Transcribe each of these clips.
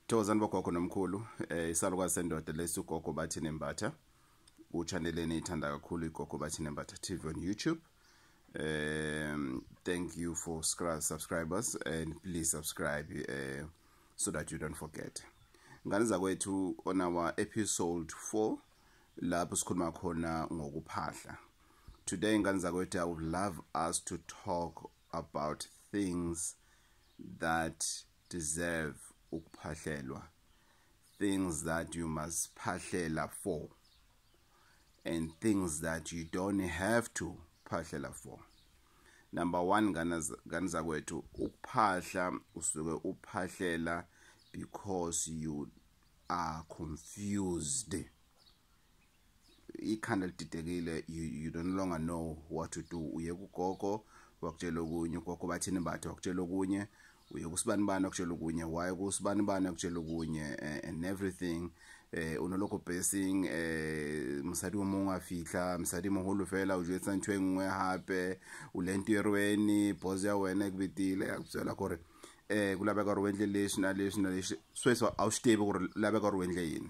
Thokozani bogogo nomkhulu eh isalukwazi sendoda lesi ugogo bathi nembatha uchannel eniyithanda kakhulu igogo bathi nembatha TV on YouTube um thank you for subscribers and please subscribe uh, so that you don't forget ngane zakwethu on our episode 4 lapho sikhuluma khona ngokuphahla today ngane zakwethu i would love us to talk about things that deserve ukuphahlelwa things that you must phahlela for and things that you don't have to phahlela for number 1 ngane zakwethu ukuphahla usuke uphahlela because you are confused ikhanda lididekile you, you don't longer know what to do uye kugogo wakutshela okunye ugogo bathini bathe wakutshela okunye uye kusibani bani wakutshela okunye why kusibani bani wakutshela okunye eh, and everything eh unoloko basing eh msadi omo ngafihla msadi moholo fela o jetsa ntwe e ngwe hape u lentirweni boss ya wena e kubitile ya kutsela gore eh kulabeka gore wendle leshina leshina leshi sweswa awustebe gore labeka gore wendle yini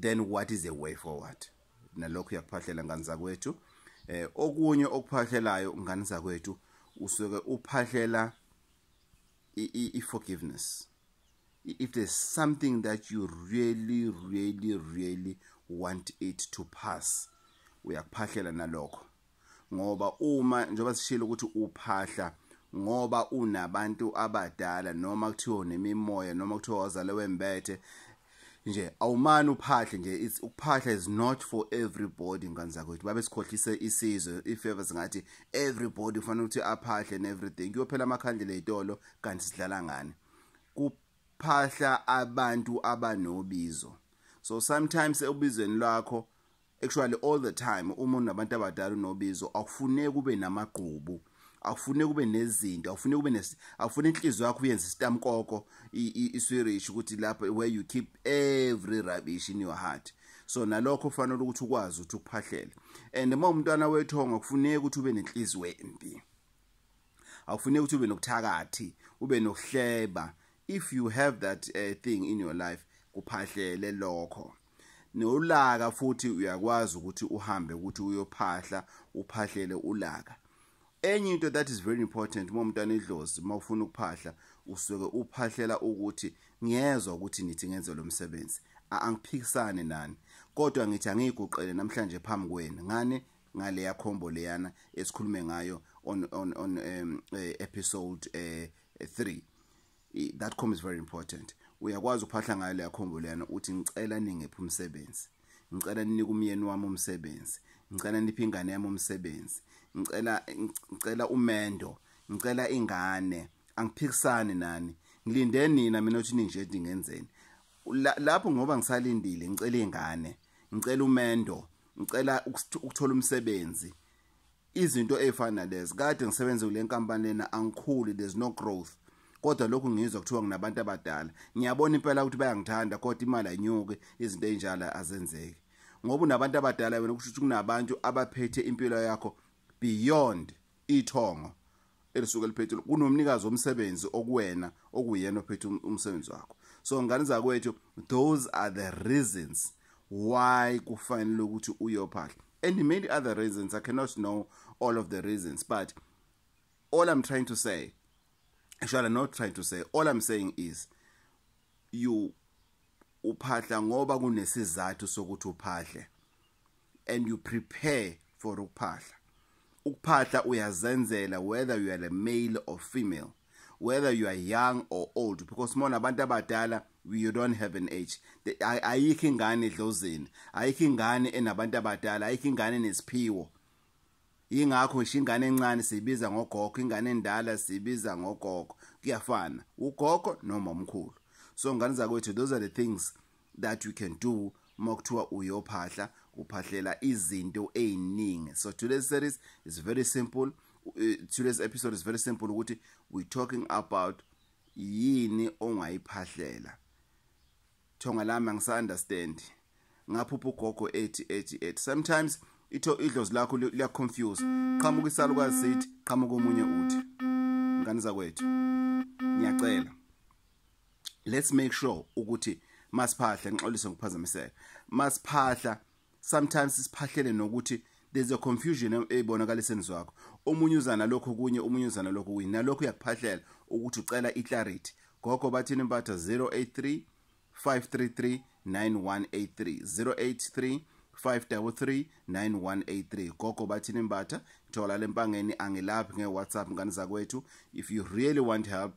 then what is the way forward nalokho uyakuphahlela ngani zakwethu eh okunye okuphahlelayo ngani zakwethu usuke uphahlela i forgiveness if there's something that you really really really want it to pass uyakuphahlela nalokho ngoba uma njengoba sishilo ukuthi uphahla ngoba unabantu abadala noma kuthiwa nemimoya noma kuthiwa wazale wembethe nje awumani uphahle nje it's ukuphahla is not for everybody ngane zakwethu babe sikhohlise isizwe ifavor singathi everybody kufanele ukuthi aphahle and everything kuyophela amakhandlela ezitolo kanti sidlala ngani kuphahla abantu abanobizo so sometimes ebizweni lakho actually all the time uma unabantu abadala unobizo akufuneki kube namagqubu akufuneki kube nezinto akufuneki kube nes akufuna inhliziyo yakho uyenze isitamkoko iswirish ukuthi lapho where you keep every rubbish in your heart so nalokho ufanele ukuthi ukwazi ukuthi ukuphahlele and uma umntwana wethonga kufuneki ukuthi ube nenhliziyo embi akufuneki ukuthi ube nokuthakathi ube nokuhleba if you have that uh, thing in your life kuphahlele lokho nolaka futhi uyakwazi ukuthi uhambe ukuthi uyophahla uphahlele ulaka enye into that is very important uma umntwana idlozi uma ufuna ukuphahla usuke uphahlela ukuthi ngiyezwa ukuthi nithi ngenze lo msebenzi angiphikisane nani kodwa ngithi angiyiguqele namhlanje phambi kwenu ngani ngale yakhombo leyana esikhulume ngayo on on on um, eh, episode 3 uh, eh, that com is very important uyakwazi ukuphahla ngayo leya khombo leyana uthi ngicela ningephi umsebenzi ngicela ninike umyeni wami umsebenzi ngicela niphe ingane yami umsebenzi ngicela ngicela umendo ngicela ingane angiphikisani nani ngilinde nina mina uthi ninje dingenzeni lapho ngoba ngisalindile ngicela ingane ngicela umendo ngicela ukuthola umsebenzi izinto ezifana nalezi kade ngisebenze kule nkampani lena angikhuli there's no growth kodwa lokhu ngizwa kuthiwa nginabantu abadala ngiyabona impela ukuthi bayangithanda kodwa imali ayinyuke izinto ezinjalo azenzeki ngoba unabantu abadala wena kusho ukuthi kunabantu abaphethe impilo yakho beyond ithongo elisuke liphethile kunomnikazi womsebenzi okuwena okuyena ophethe um-, umsebenzi wakho so ngane zakwethu those are the reasons why kufanele ukuthi uyophahla and many other reasons i cannot know all of the reasons but all i'm trying to say actually i'm not trying to say all i'm saying is you uphahla ngoba kunesizathu sokuthi uphahle and you prepare for ukuphahla ukuphahla uyazenzela whether you are a male or female whether you are young or old because mona abantu abadala you don't have an age ayikho ingane edlozeni ayikho ingane enabantu abadala ayikho ingane nesiphiwo ingakho ngisho ingane encane siyibiza ngogogo ingane endala siyibiza ngogogo kuyafana ugogo noma umkhulu so ngane zakwethu those are the things that we can do uma kuthiwa uyophahla uphahlela izinto eziningi so today's series is very simple eh, today's episode is very simple ukuthi we talking about yini ongayiphahlela thonga lami angisa understand ngaphupha ugogo ethi ethi ethi sometimes itho idlozi lakho liya confuse qhamuka isalukazi sithi qhamuka omunye uthi ngane zakwethu ngiyacela let's make sure ukuthi masiphahla ngixolise ngokuphazamiseka masiphahla sometimes siphahlele nokuthi there's a confusion eyibonakala esenzo wakho omunye uzana lokho kunye omunye uzana lokho kunye nalokho uyakuphahlela ukuthi ucela iclarity gogo bathini impatha 083 533 9183 083 5339183 gogo bathini mbatha thola lempangeni angilaphi ngewhatsapp ngani zakwethu if you really want help